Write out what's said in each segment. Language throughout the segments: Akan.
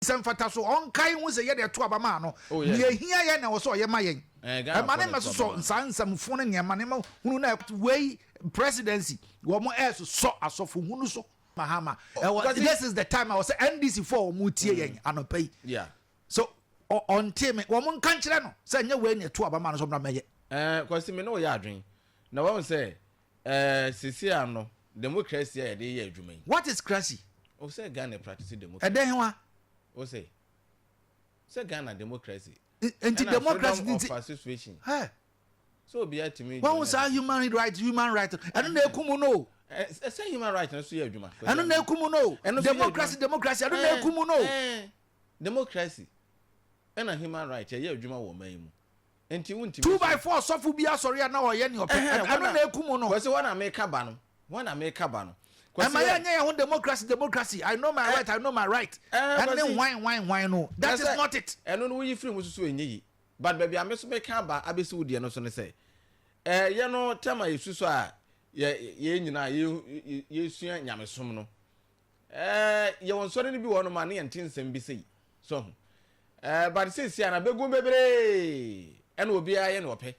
Sɛ mfataso, ɔnkae nhu sɛ yɛde ɛto aba maa no. Nea ehia yɛn na ɛwɔ sɛ ɔyɛ ma yɛn. Ɛma no mmɛsosɔ nsaa nsɛm fo ne nneɛma nneɛma hunu na. Wei presidency wɔn ɛresosɔ asɔfo hunu so. Mahama ɛwɔ this is the time a ɔsɛ NDC fo a wɔn tie yɛn anɔpa yi so ɔ ɔnte me wɔn nka nkyerɛ no sɛ nyɛ wei na ɛto aba maa no sɛ ɔmmra mmɛyɛ. Ɛɛ Kwasi me ne wo yɛ adwene na wɔn sɛ Ɛɛ sesei ano democracy a yɛde yɛ adwuma yi. What is cracy? O sɛ Ghana practice democracy. Ɛdɛ hewa? O sɛ sɛ Ghana democracy. Nti democracy nti. Ɛna freedom of association. Hɛ. Sɛ obiara tumi. Wɔn ho saa human right human right ɛno na ekumu no. Ɛsɛ human right no so yɛ adwuma. Ɛno na ekumu no. Democracy democracy ɛno na ekumu no. Democracy ɛna human right ɛyɛ adwuma wɔ ɔman yi mu. Enti wontumi nso. Two by four sɔfo bi asɔre a na ɔyɛ nea ɔpɛ. Ɛhɛn, Ɛno na ekum no. Kwasi, wɔn na meka ba no, wɔn na meka ba no. Kwasi, Ɛmma yɛn. yɛnyɛ yɛn ho democracy, democracy, I know my right, I know my right, Ɛɛ, ɛne Kwasi. hwan, hwan, hwan no. That Ɛsɛ is sɛ not it. ɛno no woyi firi ho nso so ɛnyɛ yie. But baabi a me nso meka aba abɛsi wo deɛ no so ne sɛ, ɛɛ, yɛn no tɛm a yɛsu so a yɛ, yɛn nyinaa yɛ, yɛ, yɛsua nyamesom no, Ɛɛ, yɛwɔ nsɔre no bi wɔ hɔnom a ne yɛnte nsɛm bi sei. So ho? Ɛɛ, but seesia na bɛgu bebree ɛna obiara yɛ nea ɔpɛ.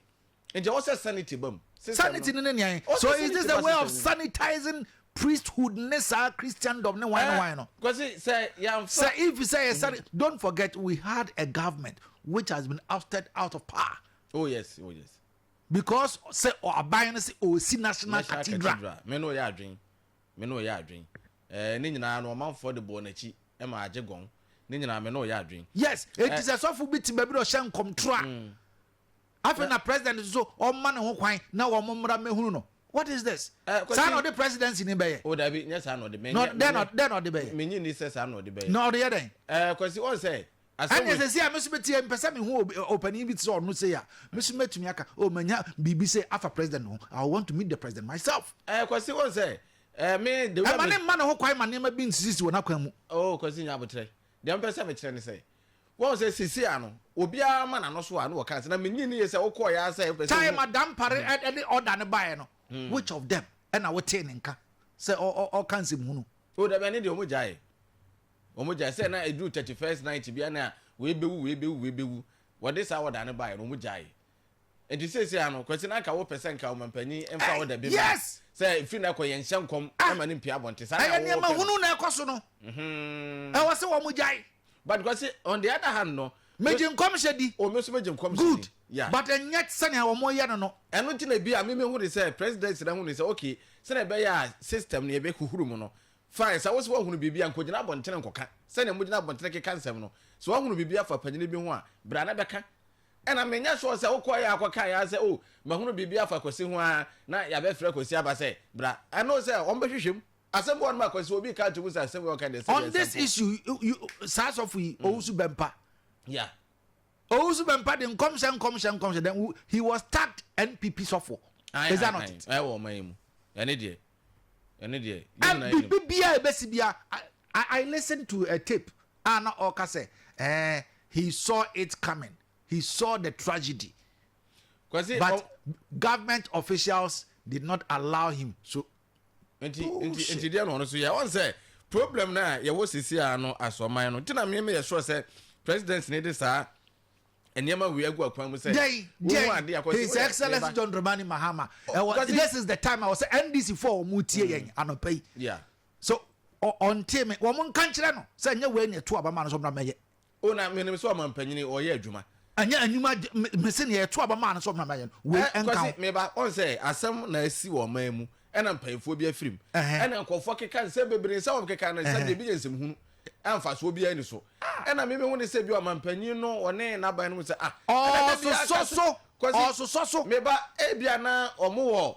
Nti ɛwɔ sɛ sanity ba mu. Sanity no ne nean? So is this a way of sanitizing priesthood ne saa Christendom ne wine wine no? Kwasi, sɛ yɛamfa. Sɛ if sɛ yɛ sani, don't forget we had a government which has been ousted out of power. Oh yes, oh yes. Because sɛ aban no sɛ ɔsi national cathedral. Mɛ na ɔyɛ adwene. me ne ɔyɛ adwen eh Ne nyinaa no ɔmanfoɔ de bɔɔ nakyi ma agye gɔn Ne nyinaa me ne ɔyɛ adwen Yes enti eh. sɛ sɔfo bi te baabi na ɔhyɛ nkɔmtoro a mm. afei na president nso ɔmma ne ho kwan na wɔn mmra mmɛhunu no what is this eh, kwasi, saa na ɔde presidency ni bɛyɛ o oh, dabi nyɛ saa na ɔde mɛ nyɛ dɛn na ɔde bɛyɛ menye ni sɛ saa na ɔde bɛyɛ na ɔde yɛ dɛn eh, kwasi ɔn sɛ Asɛm Ɛnneɛ wei. sɛ sei a me nso mɛtie, mepɛ sɛ mehu obi- ɔ- ɔpanin bi te sɛ ɔno sei a, me nso mɛtumi aka, oh, manya biribi sei afa president no ho. I will want to meet the president myself. Ɛɛ Kwasi wɔn sɛ ɛɛ me the way a Ɛma me. ne mma ne ho kwan ma nneɛma bi nsisisi wɔ n'akwan mu. Oo Kwasi nya aboterɛ. Deɛ mpɛ sɛ mekyerɛ ne sɛ wɔn sɛ sisi a no obiara ma n'ano so a no wɔka sɛ na menni ne yɛ sɛ wokɔɔ yɛ ara sɛ wopɛ sɛ Time wohu. a Dampare ɛ- ɛde order no baeɛ no, which of them ɛna wotee ne nka sɛ ɔ- ɔ- ɔka nsɛmhunu? O dabi ɛne deɛ wɔn gyae. Wɔn gyae sɛ na ɛduru thirty first night bia na wei bɛwu wei bɛwu wei bɛwu wɔde saa ɔda no baeɛ no wɔn gyae nti seesei ano kwasi na anka wopɛ sɛ nka ɔmampanyin mfa ɔda bi ma sɛ firi na ɛkɔ yɛnhyɛ nkɔm ah! ma no mpia abɔnte saa ɛyɛ nneɛma hunu na ɛkɔ so no mhm. ɛwɔ sɛ wɔn gyae but kwasi on the other hand no megye nkɔmhyɛ di o oh, me nso megye nkɔmhyɛ di good yeah. but ɛnyɛ sɛnea wɔn yɛ no no ɛno nti na bi a mimi hu de sɛ president na hu de sɛ okay sɛnea ɛbɛyɛ a system no yɛbɛhuhuru mu no Fine, sɛ wose woahunu biribi a, nka ogyina abɔntene nkɔka, sɛdeɛ mogyina abɔntene keka nsɛm no. Sɛ woahunu biribi afa panyini bi ho a, bra na bɛka. Ɛna menyɛ sure sɛ wokɔeɛ ara kɔkaeɛ ara sɛ, Oh, mahunu biribi afa Kwasi ho ara na yɛabɛfrɛ Kwasi aba sɛ, Bra. I know sɛ wɔbɛhwehwɛ mu. Asɛm bi wɔ hɔnom a, Kwasi, obi reka ato mu sɛ asɛm wei a ɔka deɛ, sɛdeɛ On this asɛmfo. issue, you, you, saa sɔfo yi, ɔwusu bɛmpa. Yeah. Owusu Bempah de nkɔmhyɛ nkɔmhyɛ nkɔmhyɛ then wo he was tagged NPP sɔfo is that not it. Ɛwɔ ɔman yi mu ɛne deɛ ɛne deɛ yɛn nyinaa yɛnim. Ɛbi bia a ɛbɛsi bia I I listen to a tape a na ɔka sɛ ɛɛ eh, he saw it coming he saw the tragedy Kwasi, but government officials did not allow him so nti oh, nti nti deɛ na ɔno so yɛ ɔn sɛ problem no a yɛwɔ sisi a no asɔman no nti na mmea yɛ sure sɛ president ne de saa nneɛma wei agu akwan mu sɛ wohu ade akɔ sɛ his excellence john dramani mahama ɛwɔ this is the time a wɔsɛ ndc fo a wɔn tie yɛn mm. anɔpa yi so ɔnte me wɔn nka nkyerɛ no sɛ nyɛ wei na ɛto abama no so mmra mɛyɛ Oh na menim sɛ ɔmampanyini ɔyɛ adwuma. Ɛnyɛ anwuma de me mese nea ɛto aba maa no sɛ ɔmena mɛyɛ no wei ɛnka ho. Ɛ Kwasi meba ɔn sɛ asɛm na asi wɔ ɔman mu ɛna mpanyinfoɔ bi afirim ɛna nkɔfoɔ keka nsɛm bebree nsɛm a wɔn keka no nsɛm deɛ ebi yɛ nsɛm hunu a mfasoɔ biara ni so ɛna me me hu ne sɛ bi ɔmampanyin no ɔne n'aban no mu sɛ ah ɛna da bi akasa Kwasi meba ebi ana wɔn wɔ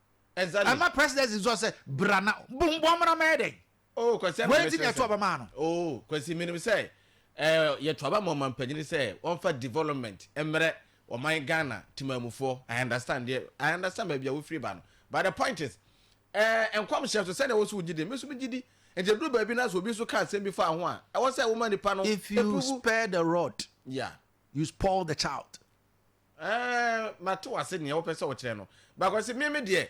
Exactly. Ɛma presidency nso sɛ bra na bu mbɔ mmra mɛyɛ dɛn. Oh kwasi ɛna mɛsrɛ sɛ. Wei nti na yɛto aba maa no. Oh kwasi minim sɛ ɛɛ yɛto aba ma ɔmampanyini sɛ wɔnfa development mmerɛ ɔman Ghana temamufoɔ. I understand deɛ I understand baabi a wofiri ba no but the point is ɛɛ eh, nkɔmhyɛ nso sɛdeɛ wɔso wogye di mi nso mi gye di nti duru baabi na so obi nso ka asɛm bi fa ho a ɛwɔ sɛ wɔma nipa no. If you spare the rod. Yeah. You spoil the child. Ɛɛ mate wase nea wopɛ sɛ wokyerɛ no. Bakwasi me me deɛ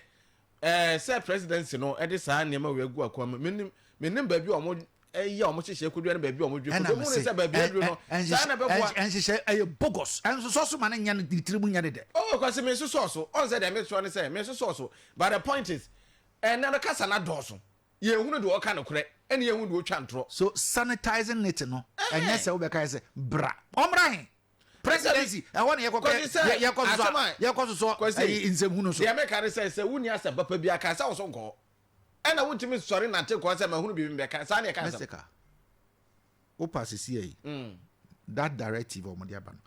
ɛɛ sɛ presidency no ɛde saa nneɛma wei agu akwan mu menim menim baabi a wɔn ɛyɛ a wɔn hyehyɛ kodua ne baabi a wɔn dwe kodua mu ne sɛ baabi aduru no saa na ɛbɛboa. Ɛnhyehyɛ ɛyɛ bogus ɛnsosɔ so ma ne nyɛ ne tiri mu nyɛ ne dɛ. Oh kwasi me nsosɔ so ɔn sɛ deɛ me sɔ ne sɛ me nsosɔ so but the point is ɛnɛ no kasa na dɔɔso yɛn hunu deɛ ɔka no korɛ ɛne yɛn hunu deɛ ɔtwa ntorɔ. So sanitizing it no ɛnyɛ sɛ wobɛka yɛ sɛ bra ɔmmra he. presidency ɛhɔ na yɛkɔ kɛ yɛkɔ sosɔ yɛkɔ sosɔ ɛyi nsɛmhu no so. deɛ meka ne sɛ sɛ wonni asɛm papa bi aka sɛ ɔso nkɔ ɛna wontumi nsɔre nante kɔ sɛ mahunu biribi mbɛka saa ne ɛka asɛm. mɛsɛka wopa sisi ɛyi mm. that directive ɔmo de aba no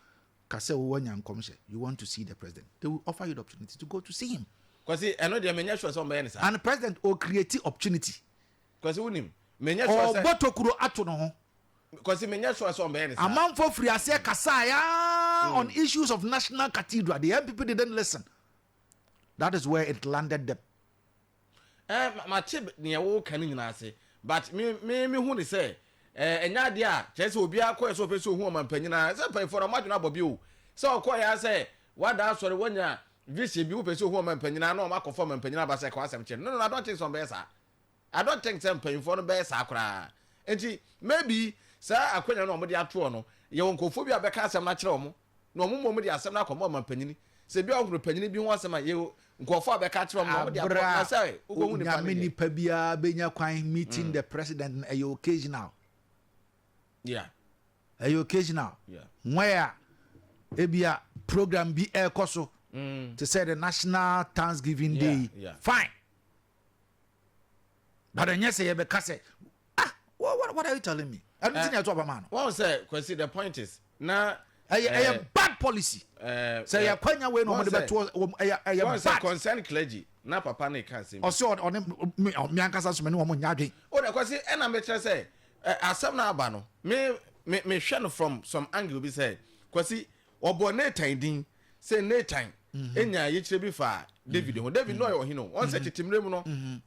ka sɛ wowɔ nya nkɔmhyɛ you want to see the president they will offer you the opportunity to go to see him. kwasi ɛno deɛ menyɛ sure sɛ ɔmbɛyɛ ne saa. and president o create opportunity. kwasi wonim menyɛ sure sɛ. ɔbɔ tokuro ato no ho. Kwasi menyɛ sure sɛ ɔmbɛyɛ ne saa. Amanfoɔ firi aseɛ kasaeɛ aa on mm. issues of national cathedral. The NPP didn't listen. That is where it landed them. Eh, mate deɛ woka no nyinaa ase but me me me hu ne sɛ eh, ɛnyɛ adeɛ a kyerɛ sɛ obiara kɔɛ sɛ ɔpɛ sɛ ɔhu ɔma mpanyinaa sɛ mpanyinfoɔ no ɔmo adwene abɔ bi o sɛ ɔkɔɛ a sɛ wada asɔre wanya vision bi wopɛ sɛ ɔhu ɔma mpanyinaa na ɔmo akɔfa ɔma mpanyinaa aba sɛ ɛkɔ asɛm kyerɛ no no no adɔnten sɛ ɔmbɛyɛ saa I don't think sɛ mpanyinfoɔ no bɛyɛ saa koraa. Nti maybe saa akwanya no a wɔde ato hɔ no, yɛwɔ nkurɔfoɔ bi a wɔbɛka asɛm no akyerɛ wɔn, na wɔn mmom de asɛm no akɔma ɔmanpanyin. Sɛ bi a wɔhunu panyin bi ho asɛm a, yɛwɔ nkurɔfoɔ a wɔbɛka akyerɛ wɔn na wɔde ato hɔ, na sɛ wokɔhu nipa no Onyame deɛ. nipa biara bɛnya kwan meeting the president no, ɛyɛ occasional. Yeah. Ɛyɛ occasional. Yeah. Where a ebia program bi ɛrekɔ so, te sɛ the national thanksgiving day Yeah, yi, yeah. fine. but ɛnyɛ sɛ yɛbɛka sɛ ah what, what, what are you telling me ɛno ti na ɛto aba maa no. wɔn sɛ kwasi the point is na. ɛyɛ ɛyɛ eh, bad policy eh, sɛ eh, yɛ kwanya wei na wɔn de bɛ to wɔn ɛyɛ ɛyɛ bad. wɔn sɛ concern clergy na papa ne ka nsɛm. ɔsɛ ɔne mi mi ankasa sɔmɛ ni wɔn nya adwene. o de kwasi ɛna mi kyerɛ sɛ asɛm na aba no mi mi mi hwɛ no from some angle bi sɛ kwasi Wɔbɔɔ Natan din sɛ Natan nyaa yikyerɛ bi faa David ho. David na ɔyɛ ɔhene o. Wɔn sɛ tete mmerɛ mu no,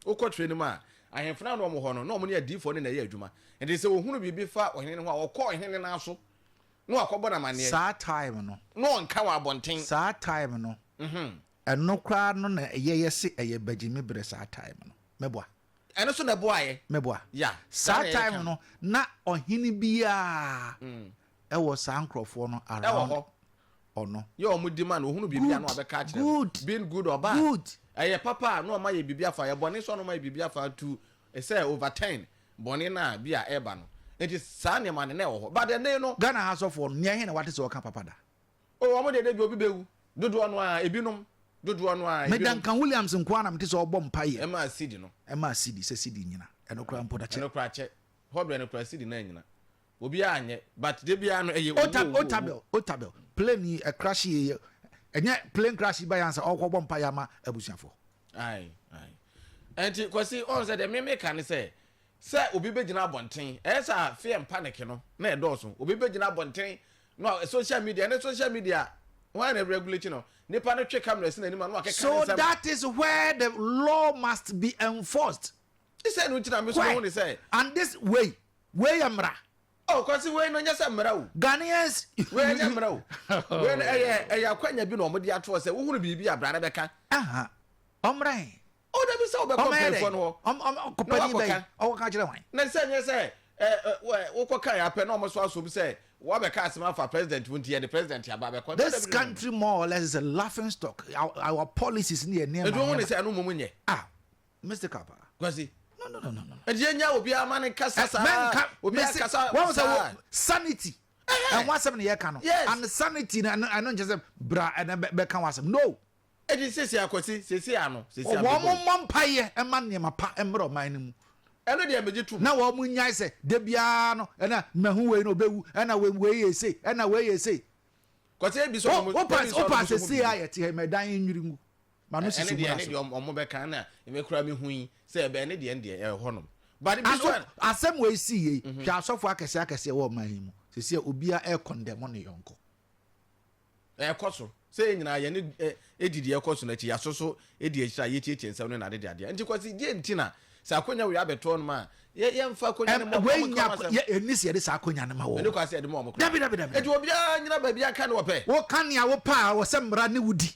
wokɔ trɛ no mu a, ahemfo no ara na wɔwɔ hɔ no, na wɔne adiyifoɔ no na ɛyɛ adwuma. Enti sɛ wɔhunu biribi fa ɔhene no ho a, wɔkɔ ɔhene no ara so na wɔakɔbɔ no amanneɛ. Saa time no. Na wɔnka wɔ abɔnten. Saa time no. Ɛno koraa no na yɛyɛ se ɛyɛ bagyimi berɛ saa time no. Mɛboa. Ɛno nso na ɛboaeɛ. Mɛboa. Yeah. Saa time no, na ɔhene biara Ɛwɔ saa nkorɔfoɔ no around ɔno. Yɛ wɔn di ma no ɔhunu biribi a na wabɛka akyerɛ no being good or bad ɛyɛ papa a na wɔn ayɛ biribi afa ɛyɛ bɔne nso a na wɔn ayɛ biribi afa to sɛ over turn bɔne no a bi a ɛreba no nti saa nneɛma no na ɛwɔ hɔ but ɛnne no. Ghana ha sɔfoɔ no nea he na wate sɛ ɔka papa da. Oh wɔn deɛ da bi obi bɛwu dodoɔ no ara ebinom dodoɔ no ara ebinom. Me Duncan Williams nko ara na mete sɛ ɔrebɔ mpaeɛ. Ɛma asidi no. Ɛma asidi sɛ sidi nyina ɛno koraa mpo da kyɛ. Ɛno koraa kyɛ hɔ berɛ no koraa asidi no anyina Obiaa anyɛ but da biaa no ɛyɛ owu owu owu. Otabel Otabel plane yi ɛcrash yie yɛ ɛnyɛ plane crash yi ba yɛ ansa ɔkɔ bɔ mpaeɛ ama abusuafoɔ. Ae ae ɛnti Kwasi ɔhu sɛ deɛ me me ka ne sɛ sɛ obi bɛgyina abɔnten ɛyɛ sɛ a fear and panic no na ɛdɔɔso obi bɛgyina abɔnten na wa social media ɛnɛ social media hwan na regulate no nipa no twe camera si n'anim a na wakeka ne nsɛm. So that is where the law must be enforced. Sɛ no nti na me nso me hu ne sɛ. And this wei Wei yɛ mmara. Oh kwasi wei no nyɛ sɛ mmara o. Ghanaians. Wei ɛnyɛ mmara o. Wei no ɛyɛ ɛyɛ akwanya bi na wɔn de ato hɔ sɛ wohunu biribi a bra na bɛka. Aha ɔmmra he? Oh dabi sɛ wobɛkɔ mpanyinfoɔ no hɔ. Ɔmɛyɛ dɛn? Ɔm ɔm ɔkɔpanin bɛn? Ɔkɔka akyerɛ hwan? Na sɛ nyɛ sɛ ɛ ɛ wɛ wokɔka yɛ apɛ na wɔn nso asom sɛ wabɛka asɛm afa president ho nti yɛde president aba abɛkɔ. This country more or less is a laughing stock our our policies ne yɛ nneɛma nneɛma. Nti wohunu sɛ ɛno mmom nyɛ. Ah Mr. Kappa. Kwasi. No no no no no. Ɛdi yɛn nya obiara ma ne kasa saa. Mɛnka obiara kasa saa. Sanity. Ɛho asɛm ne yɛ ka no. Yes. And sanity na ɛno nkyɛn sɛ bra ɛna bɛ ka ho asɛm no. Ɛdi sisi akwasi sisi ano sisi ano. Wɔn mo mmɔ mpa yɛ ɛma nneɛma pa ɛmrɛ ɔman no mu. Ɛno deɛ mɛgye tum. Na wɔn mo nyae sɛ de biara no ɛna mɛhu wei na ɔbɛwu ɛna wei wei yɛ ese ɛna wei yɛ ese. Kwasi ebi sɔ ɔmo ebi sɔ ɔmo sɔ ɔmo bi. Opa sɛ si ayɛ te ɛmɛ dan nwiri mu. ma no susu mura so. ɛne deɛ ɔmo bɛka na ɛmɛ kura mi hu yi sɛ ɛbɛ ɛne deɛ ɛdeɛ ɛwɔ hɔnom. but bi so asɛm wɔ esi yie mhm. hwɛ asɔfo akɛse akɛse ɛwɔ ɔman yi mu sisi a obia ɛkɔndɛmo ne yɔnko. ɛkɔ so sɛ yɛn nyinaa yɛn ne ɛdi deɛ ɛkɔ so n'akyi yaso so ɛdi akyire a yɛtiatia nsɛm ne na adeɛ adeɛ nti kɔsi deɛ nti na sɛ akonya wei abɛtɔ no ma yɛmfa akonya no mɔkɔ mu kama sɛm ɛni sɛ yɛde saa akonya no ma wɔ ɛni kɔ asɛ yɛde ma wɔn kɔ dabi dabi dabi ɛti obiara nyina baabi aka ne wɔpɛ wɔka nea wɔpɛ a wɔsɛ mmara ne wodi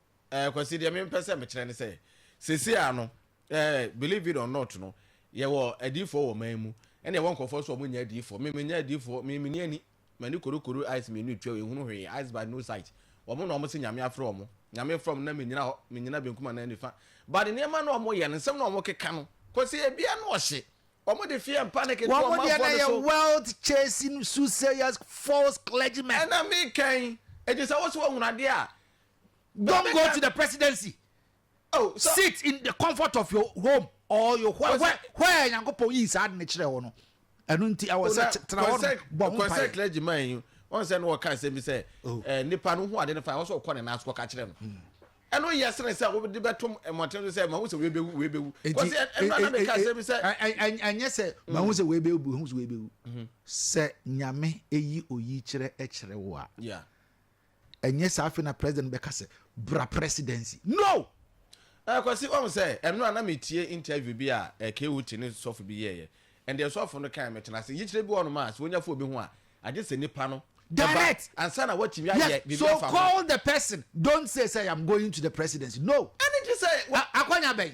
Eh, Kwasi, deɛ mempɛ sɛ mekyerɛ ne sɛ, sɛsi a no, eh, believe it or not no, yɛwɔ adiifoɔ wɔ man mu, ɛna yɛwɔ nkurɔfoɔ nso a wɔn nyɛ adiifoɔ. Me, menyɛ adiifoɔ, me, meni ani, m'ani korokoro eyes mmienu etua, yɛnhunu hwee, eyes but no sight. Wɔn na wɔn se Nyame afrɛ wɔn, Nyame frɛ wɔn na menyina hɔ, menyina benkum anaa nifa. But nneɛma no a wɔyɛ no, nsɛm no a wɔkeka no, Kwasi, ebia na ɔhye. Wɔn de fear and panic to Wɔn deɛ ɔmanfoɔ na no ɛyɛ so. wealth chasing, soothsayers, false clergymen. Ɛna meka yi, ɛti sɛ wo sɛ woahunu adeɛ a, Don't go to the presidency. Oh, so, Sit in the comfort of your home or your where where where Nyankopɔn yi saa ne kyerɛ wɔ no. Ɛno nti ɛwɔ sɛ tena hɔ bɔ ho mpae. Kɔnsɛ clergy man yi wɔn sɛ no wɔka nsɛm bi sɛ oh. eh, nipa no ho ade no fa wɔn sɛ ɔkɔ ne nan so kɔka kyerɛ no. Hmm. ɛno yɛ sene sɛ wode bɛtom mmɔten so sɛ mahu sɛ weibɛwu weibɛwu ɛnyɛ sɛ mahu sɛ weibɛwu hu sɛ weibɛwu sɛ nyame ɛyi oyi kyerɛ kyerɛ wo a Ɛnyɛ saa afei na president no bɛka sɛ bra presidency no! Eh Kwasi woahu sɛ ɛnora na me tie interview bi a eh K-Uti ne sɔfo bi yɛɛyɛ and deɛ sɔfo no kae me tena ase yikyerɛ bi wɔ hɔ nom a sɛ wonya fo obi ho a agye sɛ nipa no ba ansa na woatumi ayɛ biribi afa ho. Yes so call the person don't say sɛ I am going to the presidency no! Ɛne gye sɛ wa. Akwanya bɛn?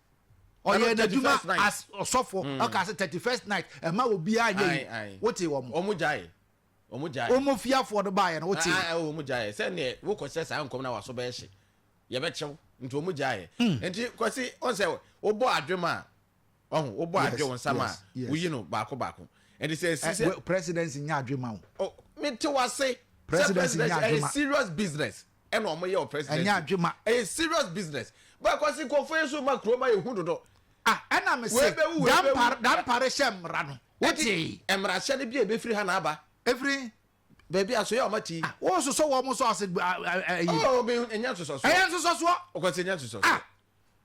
ɔyɛ n'adwuma as ɔsɔfo hmm. ɔka sɛ thirty first night ɛma wɔ biara nyɛ yi wote wɔn mo. wɔn gyae wɔn gyae. wɔn fiafoɔ no baayɛ no wote. aa wɔn gyae sɛ neɛ wokɔ sɛ saa nkɔm na waso bɛyɛ hye yɛbɛkyɛw nti wɔn gyae. Hmm. nti kɔsi wɔn sɛ wobɔ adwom a ɔho wobɔ adwe wɔn nsam a woyi no baako baako ɛnti sɛ ɛsi sɛ. presidency nya adwe ma wo. mete wase sɛ presidency ɛyɛ serious business. ɛna ɔmo yɛ wɔ presidency ɛnyɛ adwuma ɛyɛ serious business bɛɛ kɔsi nkɔfo yɛ so ma kuro ma yɛ hu dodo. ah ɛna mi se dampare dampare hyɛ mmara no wote mmara hyɛ no bi a ebe firi ha na aba efiri baabi a so yɛ ɔma ti. Ah, wɔn sosɔ wɔn so ase ɛyi. ɔɔ oh, bi ɛnyɛ nsosɔsoɔ. ɛyɛ nsosɔsoɔ. ɔkɔsi ɛnyɛ nsosɔsoɔ. ah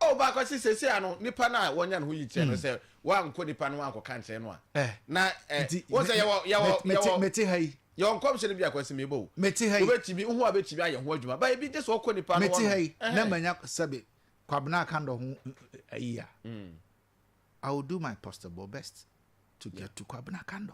Oh baako se sesei ano nipa no a wɔnya ne ho yikyerɛ no sɛ wankɔ nipa no wankɔka nkyerɛ no a na ɛ wɔn sɛ yɛwɔ yɛwɔ yɛwɔ mete ha yi yɛwɔ nkɔmhyɛ no bi akɔ sɛ mebɔ o mete ha yi wobɛtumi ho a bɛtumi ayɛ ho adwuma ba ebi gye sɛ ɔkɔ nipa no mete ha yi na manya sɛbe kwabena akandɔ ho ayi a I will do my possible best to get to kwabena akandɔ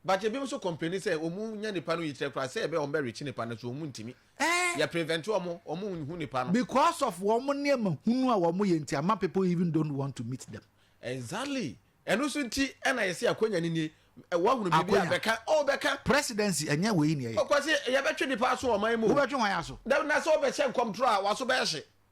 but ebinom nso complaini sɛ ɔmu nya nipa no yikyerɛ koraa sɛ ɛbɛ ɔmo bɛ rekyi nipa no so ɔmu ntimi Ɛɛ! yɛ prevent ɔmo ɔmo nhu nipa no. Because of wɔn nneɛma hunu a wɔn yɛ nti ama people even don't want to meet them. Exactly! Ɛno nso nti ɛna yɛse akonya no nie, wahunu biribi a bɛka oh bɛka. Presidency ɛnyɛ wei na ɛyɛ. Ɔkwasi yɛbɛtwe nipa aso wɔ ɔman mu o. Wobɛtwe hwan aso? Dabi, na sɛ ɔbɛhyɛ nkɔmtorɔ a w'aso bɛhye.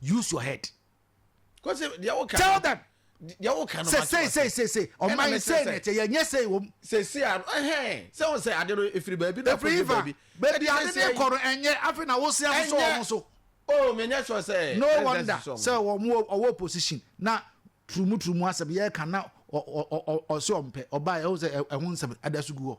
use your head tell them sɛ sei sei sei sei ɔman sei na ɛkyɛ yɛnyɛ sei wɔ mu sɛsi a ɛhɛn sɛ wɔn sɛ ade no efiri baabi na efiri iva baabi ade no ekɔ no ɛnyɛ afei na wosi asoso wɔn so oh menyɛ sure sɛ no wonder sɛ wɔn ɔwɔ opposition na turumu turumu asɛm yɛ ka na ɔsɛ ɔmpɛ ɔbaa ɛho sɛ ɛho nsɛm ɛda so gu hɔ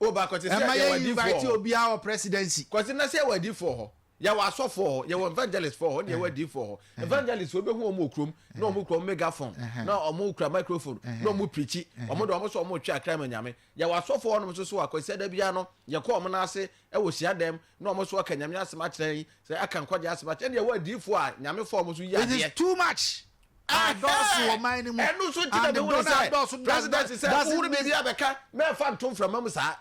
O ba kɔte sɛ yɛwɔ adiifoɔ hɔ. obiara wɔ presidency. Kɔte na sɛ yɛwɔ adiifoɔ hɔ. Yɛwɔ asɔfoɔ hɔ, yɛwɔ evangelist foɔ hɔ, na yɛwɔ adiifoɔ hɔ. Evangelist foɔ bɛhu wɔn wɔ kurom, na wɔn kura wɔn megaphone, na wɔn kura microphone, na wɔn preachi. Wɔn de wɔn sɛ wɔn retwe akra ma Nyame. Yɛwɔ asɔfoɔ hɔnom nso so a, kɔte sɛ da biara no, yɛkɔ wɔn nan ase wɔ hyiadan mu, na wɔn nso aka Nyame asɛm akyerɛ yɛn, sɛ aka nkwagyeɛ asɛm akyerɛ yɛn. Ɛna yɛwɔ adiifoɔ a Nyame fa wɔn so yi adeɛ. It is too much. adɔɔso wɔ man no mu. Ɛno nso nti na mehunu sɛ presidency sɛ wohunu biribi a bɛka na ɛfa nto mframa mu saa.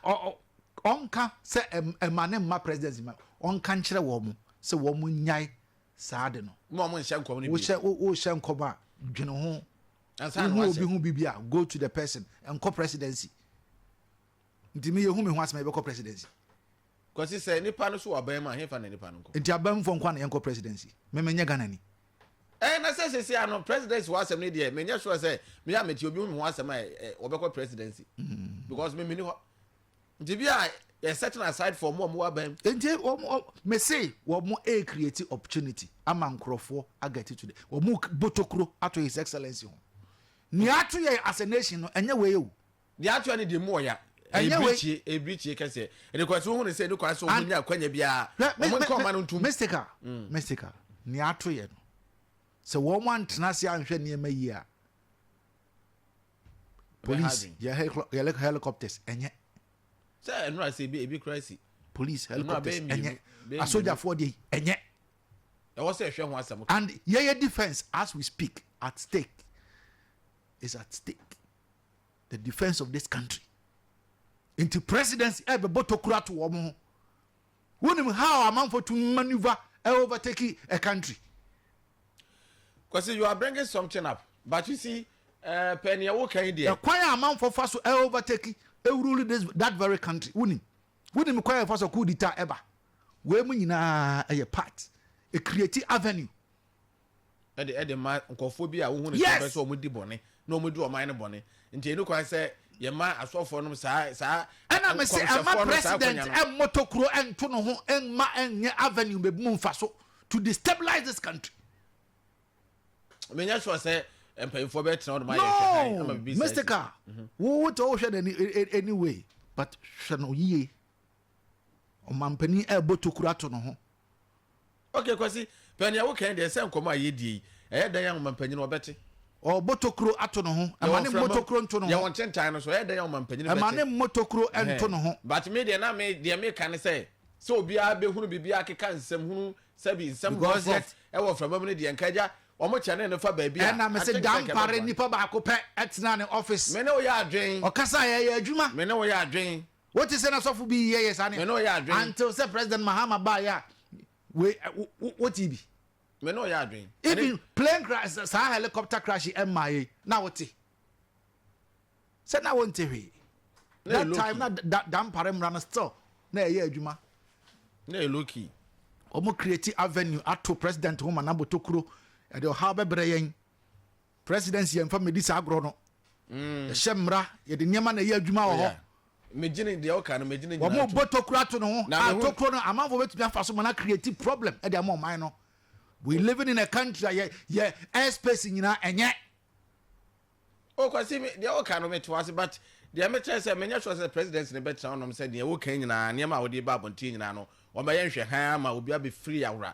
Ɔnka sɛ ɛma ne mma presidency ma ɔnka nkyerɛ wɔn sɛ wɔn nyae saa de no. Ma wɔn nhyɛ nkɔm no bi. Wohyɛ wohyɛ nkɔm a dwene ho. Wohu obi ho biribi a go to the person nkɔ presidency. Nti me yɛ hu me ho asem a yɛbɛkɔ presidency. Kwasi sɛ nipa no so wɔ aban mu a hefa na nipa no nkɔ. Nti aban mu foɔ nkoa na yɛnkɔ presidency? Me menyɛ Ghana ni. Ɛɛ na sɛ sɛsi a no presidency ho asem no deɛ menyɛ sure sɛ me a mete obi hu me ho asem a wɔbɛkɔ presidency because me meni hɔ. Nti bi a yɛ setting aside for ɔmo a ɔmo wɔ aban mu. Nti ɔmo me se ɔmo ɛɛ create opportunity ama nkorɔfoɔ a get to the ɔmo botokuro ato his excellency ho. Nea ato yɛn as a nation no ɛnyɛ wei o. deɛ atoa ne deɛ mu ɔya ebirikyie ebirikyie kɛseɛ ɛdekwasi ohun sɛ ne kwan so ɔmo nya akwanya biara ɔmo nka ɔma no ntum. mystical mm. mystical nea ato yɛ no sɛ wɔn antena ase anhwɛ nneɛma yi a police yɛ helicopters ɛnyɛ. sɛ ɛnu ase ebi ebi kura si. police helicopters ɛnyɛ asogyafoɔ de ɛnyɛ. ɛwɔ sɛ ɛhwɛ ho asɛm. and yɛyɛ defence as we speak at stake is at stake. the defence of this country nti presidency ɛbɛbɔ tokuro ato wɔn ho wonim how amanfo to maneuver overtake a country. Kwasi you are bringing something up but you see uh, pɛ nea wo kan deɛ. ɛkwan a amanfo fa so overtake ewuruli this that very country wonim wonim kwan a ɛfa so kuu di ta ɛba wei mu nyinaa ɛyɛ part a creative avenue. ɛde ɛde ma nkɔfoɔ bi a wohu ne sɛ bɛ sɛ wɔn di bɔne na wɔn di ɔman no bɔne nti ɛnu kwan sɛ yɛma asɔfoɔ nom saa saa ɛna me se ɛma president ɛmmɔtɔ kuro ɛnto no ho ɛmma ɛnyɛ avenue bɛbi mu mfa so to destabilize this country menyɛ sure sɛ mpanyinfoɔ bɛ tena ɔdoma yɛ hwɛ ama bibi sɛ no mystica wo wo tɛ wo hwɛ no anyway but hwɛ no yie Ɔmanpanin rebɔ tokuro ato ne ho. Ok Kwasi, pɛ nea woka yi deɛ sɛ nkɔmmɔ a yɛdie yi, ɛyɛ dɛn a ɔmanpanin ɔbɛte? Ɔrebɔ tokuro ato ne ho, ɛma ne mmɔ tokuro nto ne ho. Yɛwɔ ntentan no so, ɛyɛ dɛn a ɔmanpanin bɛte? Ɛma ne mmɔ tokuro nto ne ho. But me deɛ na me, deɛ meka ne sɛ, sɛ obiara bɛhunu biribi akeka nsɛm hunu, sɛbi nsɛm rɔfrɔf wɔ mframa mu no deɛ, nka agya, wɔkyɛne no fa baabi a, Ɛna mese Dampare nipa baako pɛ tenaa ne office. Me ne wo yɛ adwene. Ɔkasaeɛ, ɛyɛɛ adwuma. Me ne wo yɛ adwene. Wote sɛ na sɔfo bi yɛ yɛ saa ne a? Until sɛ President Mahama baeɛ a wei wote bi. Me ne ɔyɛ adwene. Even plane crash saa helicopter crash yi ɛmmaa yɛ na wote. Sɛ na wonte hwee. That time na dampare mmara no still na ɛyɛ adwuma. Na ɛyɛ low key. Wɔn create avenue ato president ho ma n'abotokuro ɛde ɔhaw bɛbrɛ yɛn. President yɛ nfa medi saa agorɔ no yɛ hyɛ mmra yɛ de nneɛma na ɛyɛ adwuma wɔ hɔ. Megyene deɛ woka no megyene nyinaa to. Wɔn bɔ tokuro ato ne ho a tokuro no amanfoɔ bɛtumi afa so ma na create problem ɛde ama ɔman no. We living in a country a yɛ yɛ airspace nyinaa ɛnyɛ. O kwasi mi deɛ woka no mete wase but deɛ mekyerɛ sɛ menyɛ sure sɛ president ne bɛtena ɔnom sɛ deɛ woka nyinaa nneɛma a wɔde ba abɔnten nyinaa no wɔbɛyɛ nhwɛ hann ama obi abɛfiri awora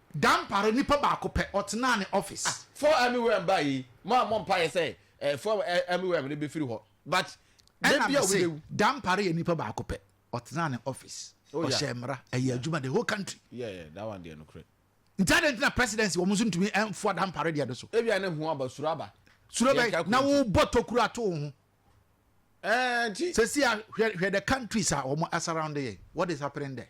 Dampare, nipa baako pɛ, ɔtenaa ne office. Ah four army worm ba yi mo a mo mpaeɛ sɛ eh four army worm no bɛfiri hɔ but da bi a obi bɛwu. Dampare yɛ nipa baako pɛ, ɔtenaa ne office, ɔhyɛɛ mmara, ɛyɛɛ adwuma the whole country. Yeah yeah that one deɛ nokorɛ. Nti adɛn nti na presidency wɔn nso ntumi mfoa Dampare deɛ no so. Ebia ne ho aba suro aba. Suro bɛn na wo bɔ tokuro ato wo ho. Ɛɛ nti. Sɛsi a hwɛ hwɛ the countries a wɔn surround yɛn what is happening there.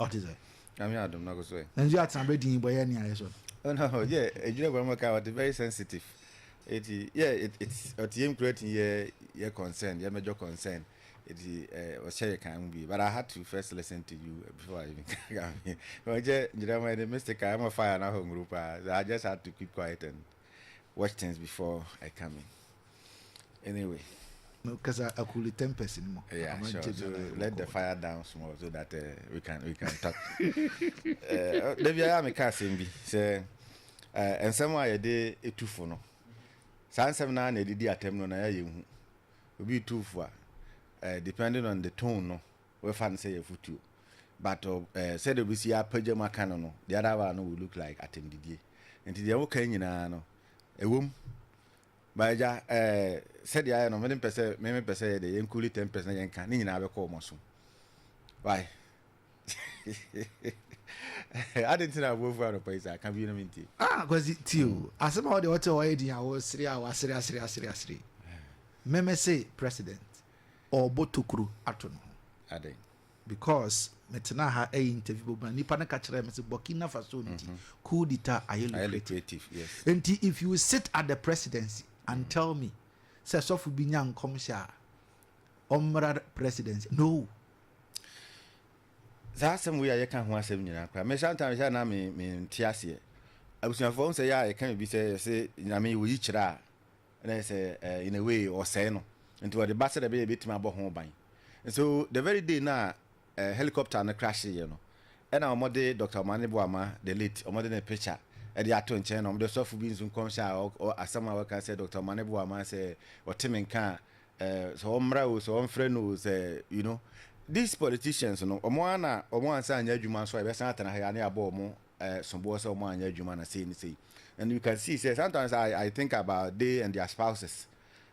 Ɔte sɛ. Nyame adom na koso ɛ. Nanso yɛ atena bɛ din bɔ yɛ nea yɛ sɔ no. Oh no oh yɛ edwira bɔ no mɔka ɔte very sensitive eti yɛ it's ɔte yɛ mkura ti yɛ yɛ concern yɛ mɛjɔ concern eti eh ɔhyɛ yɛ kan mu bi but I had to first listen to you before I even kame ɔjɛ nyira mɔ ɛni mistake a ɛmɔ fire na hɔ nguru paa so I just had to keep quiet and watch things before I come in. anyway. No kasa akuli tempest ni mo. Yeah, sure. So let the fire down small so that uh, we can we can talk. Eh, Dabi ayé mi ká asem bi sɛ eh, nsɛm a yɛde etu fo no saa nsɛm naa na yɛde di atɛm no na yɛ yɛn hu obi tu fo a eh, depending on the tone no wɔfa no sɛ yɛ futuo but sɛdeɛ obi si apagya mu aka no no the other one no will look like atɛmdidie nti deɛ woka nyinaa no ɛwom. E Ba agya eh sɛdeɛ ayɛ no me de mpɛ sɛ me me pɛ sɛ yɛ deɛ yɛn kuli ten pɛs na yɛn ka ne nyinaa bɛkɔ wɔn asom why adi nti na abuo fu anɔpa yi saa ka bi no me nti. Ah Kwasi tie o hmm. asɛm a wɔde wɔte hɔ ayɛ din a wɔsere a wɔasere asere asere asere mɛmɛ se president ɔbɔ tokuro ato no ho. Aden. Because me tenaa ha ɛyɛ interview bɔ bena nipa no ka kyerɛ me se Burkina Faso nti mm -hmm. coup d'etat ayɛ lucrative yes. nti if you sit at the presidency and mm. tell me sɛ sɔfo bi nya nkɔmhyɛ a ɔmmra presidency no saa asɛm wei a yɛka ho asɛm nyinaa koraa me sometimes yɛ na me me nte aseɛ abusuafoɔ sɛ yɛ a yɛka bi sɛ yɛsɛ nyame wɔ yi kyerɛ a na ayɛ sɛ in a way ɔsɛe no nti wɔde ba sɛdeɛ ɛbɛyɛ ɛbɛtumi abɔ ho ban. So the very day no a helicopter no crasheeɛ no ɛna wɔde Doctor Omane Boama the late wɔde ne picture ɛde ato nkyɛn na wɔde ɔsɔfo bi nso nkɔmhyɛ a ɔ asɛm a wɔka sɛ Doctor Omane Boama sɛ ɔte me nka a sɛ wɔmmra o sɛ wɔmfrɛ no o sɛ you know these politicians no wɔn ara na wɔn ansa anyɛ adwuma nso a yɛbɛsan atena ha yi a na yɛabɔ wɔn eh, soboɔ sɛ wɔn anyɛ adwuma na sei ne sei and you can see sɛ sometimes I, I think about they and their spouses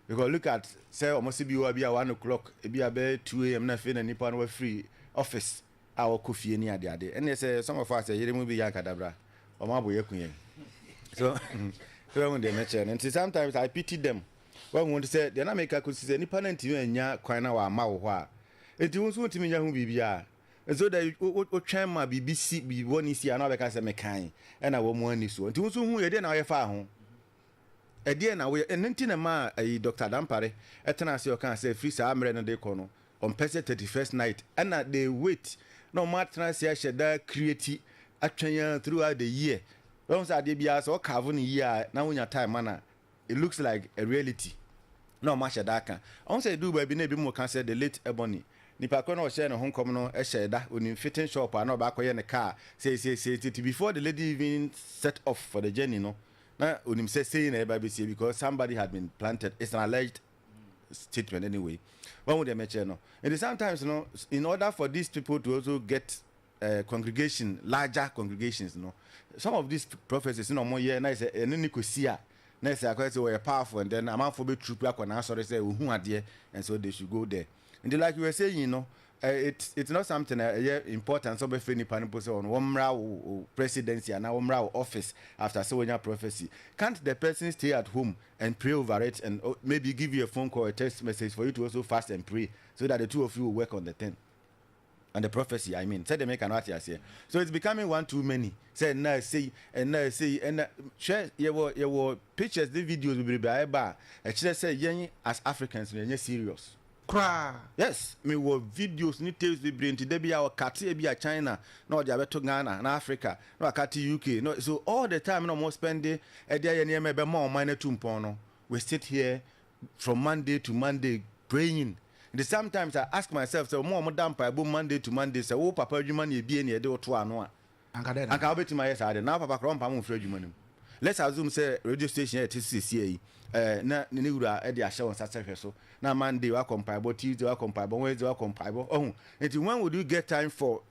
because look at sɛ wɔn se bi wɔ bi a one o'clock ebi a bɛyɛ two am na afei na nipa no wafiri office a wɔkɔ fie ne adeade ɛnneɛ sɛ some of us yere mu bi yɛ ankadabra wɔn abo yɛ ku yɛn so sɛ wɔn deɛ mɛkyerɛ no nti sometimes I pity them wɔn wɔn ti sɛ deɛ na meka kɔsi sɛ nipa no ntumi anya kwan na wɔama wɔ hɔ a nti wɔn nso wɔntumi nya ho biribiara So dɛ wotwɛn ma biribi si, biribi bɔne si a na wɔabɛka sɛ mekae, ɛnna wɔn ani soɔ? Nti wo nso hu ɛdeɛn na woyɛ faa ho? Ɛdeɛn na woyɛ? Ɛno nti na ɛmaa ayi Doctor Adampare tenaa ase ɔkaa sɛ firi saa mmerɛ no de rekɔ no, ɔmpɛ sɛ thirty first night, ɛnna they wait na wɔn atena ase ahyɛ da create atwɛn ara throughout the year. Woahu sɛ adeɛ biara sɛ wo carve no yie a na wonya time ma no a, It looks like a reality na ɔmo ahyɛ da aka. Ɔho sɛ eduu baabi na ebi mo ka sɛ the late Ebony, nipa korɔ na ɔhyɛɛ ne ho nkɔm no hyɛɛ da onim fitting shop a na ɔbɛ akɔyɛ ne car sei sei sei nti before the lady even set off for the journey no na onim sɛ sei na ɛbɛ abɛsie because somebody had been planted it's an alleged statement anyway wahu deɛ mɛkyerɛ no nti sometimes no in order for these people to also get eh, congregation, larger congregations no. Some of these prophecies na wɔn yɛ na ɛsɛ ɛne ne kɔsi a na ɛsɛ akɔyɛ sɛ wɔyɛ powerful and then amanfoɔ bɛ troop akɔ n'asɔre sɛ ohun adeɛ and so they should go there. Nti like you were saying no, eh, it it's not something a ɛyɛ important sɛ ɔbɛfɛ nipa no mpo sɛ wɔn wɔn mmra wo wo presidency anaa wɔn mmra wo office after sɛ wɔnya prophecy. Can't the person stay at home and pray over it and oh, maybe give you a phone call, a text message for you to also fast and pray so that the two of you will work on the thing. and the prophecy I mean sɛdeɛ meka no ate aseɛ so it's becoming one too many sɛ ɛnna ɛsei ɛnna ɛsei ɛnna hwɛ yɛwɔ yɛwɔ pictures ne videos bebrebe a ɛba a ɛkyerɛ sɛ yɛn as Africans no yɛnyɛ serious koraa yes mewɔ videos ne tapes bebree nti da bi a ɔkate ebi a China na ɔde abɛto Ghana na Africa na wakate UK no so all the time na wɔn spend ɛde ayɛ nneɛma ɛbɛma ɔman no atu mpɔn no we sit here from Monday to Monday praying nti sometimes I ask myself sɛ wɔn a wɔda mpaebɔ mu Monday to Monday sɛ wo papa adwuma na ebie na yɛde wo to ano a anka wobɛtumi ayɛ saa deɛ na wo papa koraa ɔmpam wo mfiri adwuma no mu let's assume sɛ radio station a yɛte so sesia yi eh, na ne wura de ahyɛ wɔn nsa sɛ hwɛ so na Monday wakɔ mpaebɔ Tuesday wakɔ mpaebɔ Wednesday wakɔ mpaebɔ ɔho nti when would you get time for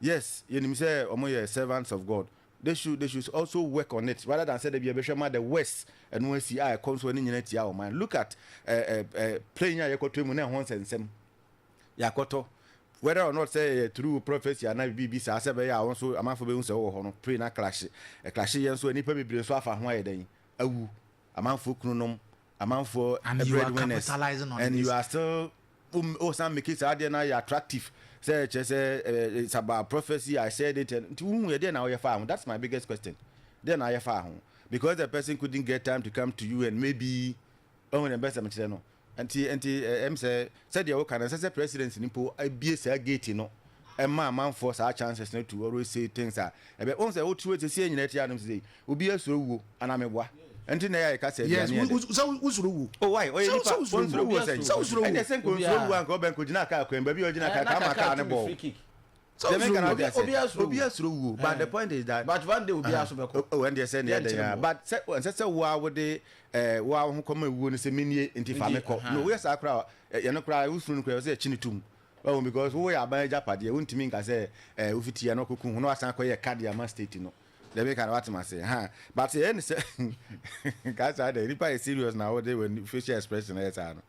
Yes yɛnim sɛ ɔmo yɛ servants of God they should they should also work on it rather than sɛ dabi yɛbɛhwɛ ma the worse ɛno asi a ɛkɔ nso ani nyina tia wɔn man look at eh, eh, eh, plane a yɛkɔtɔ mu na ɛho nsɛnsɛm yɛakɔtɔ whether or not sɛ yɛ through prophecy ana biribi saa sɛ bɛyɛ a wɔn nso amanfo bɛhu sɛ wɔwɔ hɔ no plane akrahye ɛkrahye yɛ nso a nnipa bebree nso afa ho ayɛ dɛn awu amanfoɔ kununom, amanfoɔ And you are breadwinners capitalizing on and you this. are still wo wo san make saa adeɛ no ayɛ attractive sɛ kyerɛ sɛ eh, it's about prophecy I said it and nti wohu yɛ deɛ na woyɛ faa ho that's my biggest question deɛ na ayɛ faa ho because the person couldn't get time to come to you and maybe ɔhu deɛ bɛsɛ mekyerɛ no Nti nti ɛm sɛ sɛdeɛ wo ka no ɛnsɛ sɛ president no mpo abie saa gate no ɛma amanfoɔ saa chances no to always say things a ɛbɛ wɔn sɛ wo tiri sɛ sie nyina ɛte anom sɛ obi asuro wuo anaa meboa ɛnti na ɛyɛ a yɛka sɛ yes sɛ wo suro wuo oh why ɔyɛ nipa wɔn suro wuo sɛ ɛnɛ sɛ nkɔ nsuro wuo anka ɔbɛn kɔ gyina kaa kwan baabi ɔgyina kaa kaa ma kaa ne bɔɔ. Sɛ wosuro wu a, obiara suro wu o, but the point is that. But one day obiara so bɛkɔ. Oh, ɛn deɛ sɛ ne yɛdɛ yɛn a, but sɛ ɛnsɛ sɛ wo ara wode ɛɛ wo ara wo ho kɔma ewuo no sɛ menie nti fa me kɔ. No, woyɛ saa koraa a, yɛn koraa wosuro no koraa ɛwɔ sɛ yɛkye no tom. Wahu because wo yɛ aban agyapadeɛ, wontumi nka sɛ ɛɛ wofiti yɛ na wakɔku ho na wasan akɔyɛ ɛka de ama state no. Deɛ meka no wate m'ase ha, but sɛ ɛn sɛ ka saa dɛ nipa yɛ serious na wode w'ani facial expression ayɛ saa no.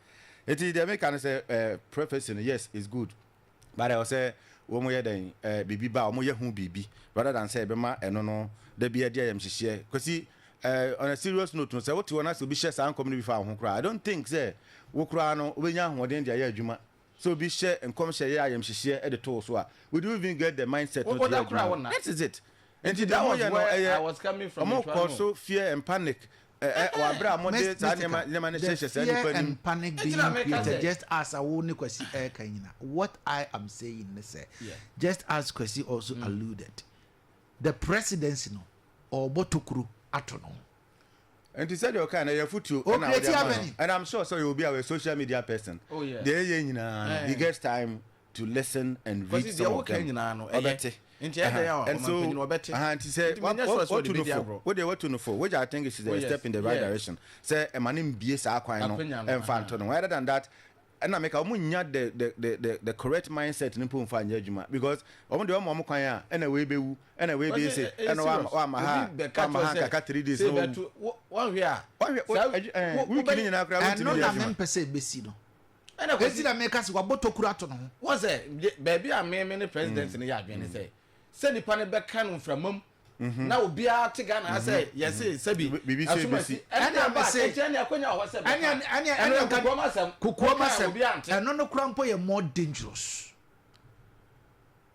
Nti deɛ meka no sɛ ɛɛ prophecy no yes it's good. but ɛwɔ sɛ wɔn yɛ dɛn ɛɛ biribi ba wɔn yɛ ho biribi rather than sɛ ɛbɛma ɛno no da bi adi ayamhyehyeɛ kwasi ɛɛ on a serious note no sɛ wote hɔ na sɛ obi hyɛ saa nkɔm no bi fa wo ho koraa I don't think sɛ wo koraa no wobɛnya ahoɔden de ayɛ adwuma sɛ obi hyɛ nkɔmhyɛ yɛ ayamhyehyeɛ de to wo so a would you even get the mindset no to yɛ adwuma that is it nti deɛ wɔyɛ no ɛyɛ wɔn kɔ so fear and panic. Eh eh wɔ abere a mo de saa nneɛma nneɛma no hyehyɛ saa nipa nim. Ntina mi ka sɛ. Just as a wo ne Kwasi ɛka nyina what I am saying ne sɛ just as Kwasi also mm. alluded the presidency no ɔbɔ tokuro ato no ho. nti sɛ deɛ ɔka na yɛ futuo ɛna ɔde ama no and I'm sure sɛ ɔyɛ obi a ɔyɛ social media person deɛ ɛyɛ nyinaa no he gets time. to listen and read some of them ɔbɛte and so nti sɛ watu no fo wodeɛ watu no fo which I think is a step in the right direction sɛ ɛma no mbie saa kwan no ɛmfa nto no rather than that ɛna meka wɔn nya the the the the correct mindset no mpo nfa nyɛ adwuma because wɔn deɛ wɔn wɔn kwan a ɛna wei bɛwu ɛna wei bɛyɛ se ɛna wɔama ha wɔama ha kaka three days na wɔwu wɔhwɛ a wɔhwɛ wikini nyinaa koraa wɔntumi yɛ adwuma ɛno na mempɛ sɛ ɛbɛsi no Ɛna Kwesi. Enti na meka se wabɔ tokuro ato ne ho. Woahu sɛ, baabi a me ne President no yɛ adwene ne sɛ, sɛ nnipa no bɛka no mframa mu na obiara te Ghana ha sɛ yɛse sɛbi asomasi ɛne aba a ɛnkyɛn ne akwanya wɔ hɔ sɛ bɛka a. Ɛno yɛ kokoam asɛm. Kokoam asɛm. Ɛno no koraa mpo yɛ more dangerous.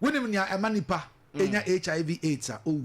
Wonim nea ɛma nnipa nya HIV, AIDS a, owu.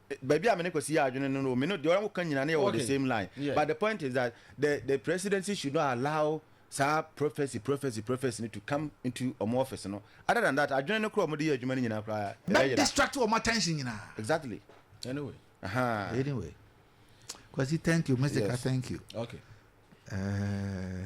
baabi a me ne Kwasi yɛ adwene no no, me no deɛ ɔno ka nyina no yɛ wɔ the same line. Yeah. But the point is that the the presidency should not allow saa prophecy prophecy prophecy no to come into ɔmo office no. Other than that, adwene no koraa ɔmo de yɛ adwuma no nyinaa koraa ɛbɛ Bɛ yera. distract ɔmo attention nyinaa. Exactly. Anyway. Ahaa. Anyway. Kwasi, thank you. Mr. Ka, Yes. thank you. Okay. Eh,